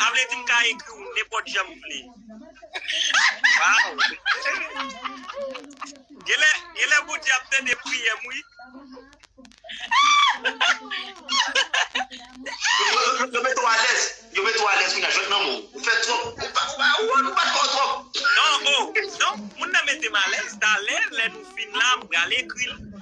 Sa vle di m ka ekri w nenpòt jan m vle. Genlè genlè Bondye ap tande priyè m wi. Yo met ou alèz yo met ou alèz kounya jwenn nan mou ou fè twòp ou pa ou pa ou pa fò twòp. Non oh non moun nan metem alèz talè lè nou fin la m pral ekril.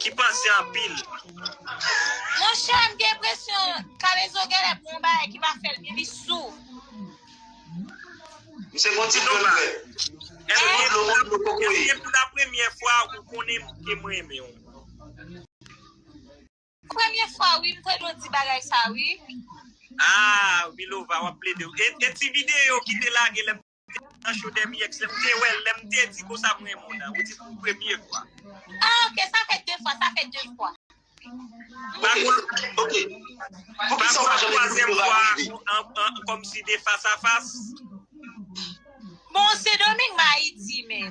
Ki panse anpil. Monchè m gen enpresyon kalezo genlè pou yon bagay ki pa fèl byen li sou. Misye gon ti dlo nan vèl. Misye gon dlo gon dlo kokoye. Eske pou la premye fwa ou konnen ke m renmen w. Premye fwa wi m tande w di bagay sa wi. Aah milova wap plede wi. E ti video ki te lage lè. Youn nan show demi ex lèm te wèl lèm te di konsa m renmen w nan ou di pou premye fwa. Ah ok sa fè 2 fwa sa fè 2 fwa. Bagol ok Poukisa ou pa janm ekri pou pral prive. Komsi de fas a fas. Bon se doming m ayiti men.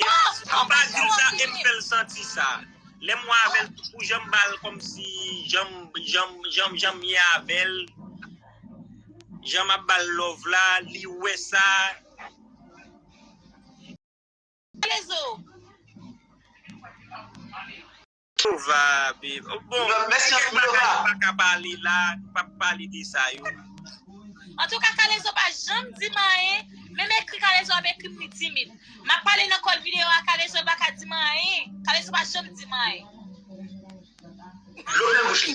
Mph Anba dil sa em fel santi sa Lem wè avel tou kou janm bal komsi janm janm janm janm ye avel Jan map bal love la li wè sa Alezo. Lova be bon kèk bagay nou pa ka pale la nou pap pale de sa yo. Antouka kalezo pa janm dim anyen menm ekri kalezo ap ekrim li timid map pale nan kòl video a kalezo li paka dim anyen kalezo pa janm dim anyen. Dlo plen bouch li.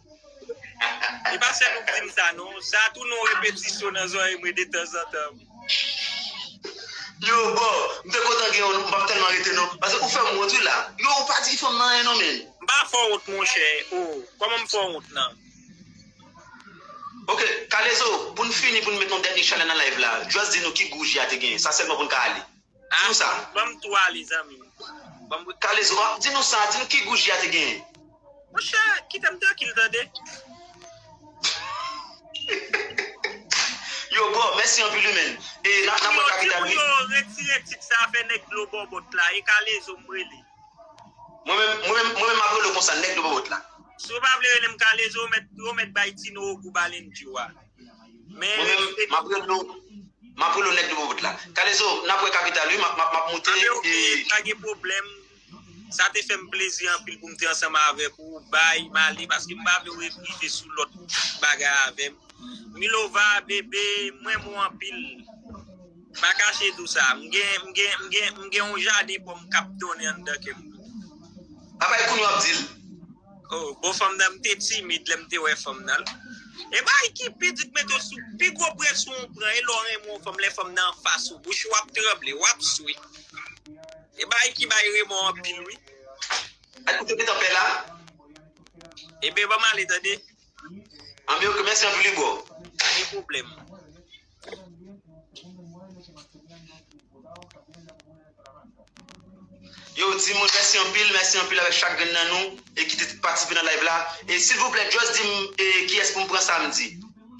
E pa sèl ou k dim sa non, sa tounen yon repetisyon nan zorèy mwen detanzantan. Yo bon, m te kontan gen w nou, m pap tèlman rete non, pase ou fè m wont wi la. Yo ou pa di fanm nan anyen non menn. M pa fè w wont monchè oo, kòman m fè w wont nan. Ok, kalezo, pou n fini pou n met yon dènye chalè nan live la, just di nou ki gou je a te genyen, sa sèlman pou n ka ale. Di nou sa. Banm 3 li zanmim. Kalezo banm di nou sa, di nou ki gou ji a te genyen. Monchè kitem trankil tande. Yo boo mèsi anpil wi menn e nap nan pran kapital wi. Di pou yo retire tit sa fè nèg dlo bòbòt la e kalezo m rele. Mwen menm mwen menm map relew konsa nèg dlo bòbòt la. Si w pa vle relem kalezo ou mèt bay tino ogou balen di w a. Mwen menm map rele w map rele w nèg nouvo wout la. Kalezo nap wè kapital wi map moute e. Ok pa gen pwoblèm. Sa te fèm plezi anpil poum te ansanm avèk ou bby male paske m pa vle w rive sou lòt bagay avèm Milova bebe m renmen w anpil pa kache do sa m gen yon jaden pòm kap donnen anndan kèm. Papay kounou ap dil. Oh bon fanm nan mte timid lèm te wè fanm nan e bagay ki pi di mete w sou pi gwo presyon ou pran e lè w renmen yon fanm lè fanm nan anfas ou bouch ou ap tranble wap swe e bagay ki bay remò anpil wi Al koute pitan pè la. Ebyen banm ale tande. Anmyee ok mèsi anpil wi bro. Pa gen pwoblèm. Yo di moun mèsi anpil, mèsi anpil avèk chak grenn nan nou e ki te patisipe nan live la. E silvouplè just di m e kiyès pou m pran samdi.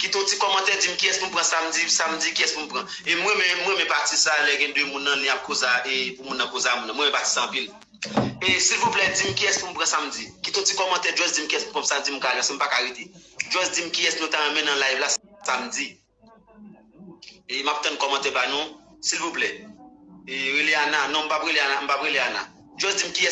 Kite yon ti kòmantè di m kiyès pou m pran samdi, samdi kiyès pou m pran. E m renmen, m renmen pati sa lè gen 2 moun nan ni ap koza e pou moun nan koza moun nan. M renmen pati sa anpil. E silvouplè di m kiyès pou m pran samdi. Kite yon ti kòmantè just di m kiyès pou m pran samdi m ka lanse m pa ka rete. Just di m kiyès nou ta renmen nan live la. samdi e map tann kòmantè pa nou silvouplè e rele ana non m pap rele ana m pap rele ana just dim kiyès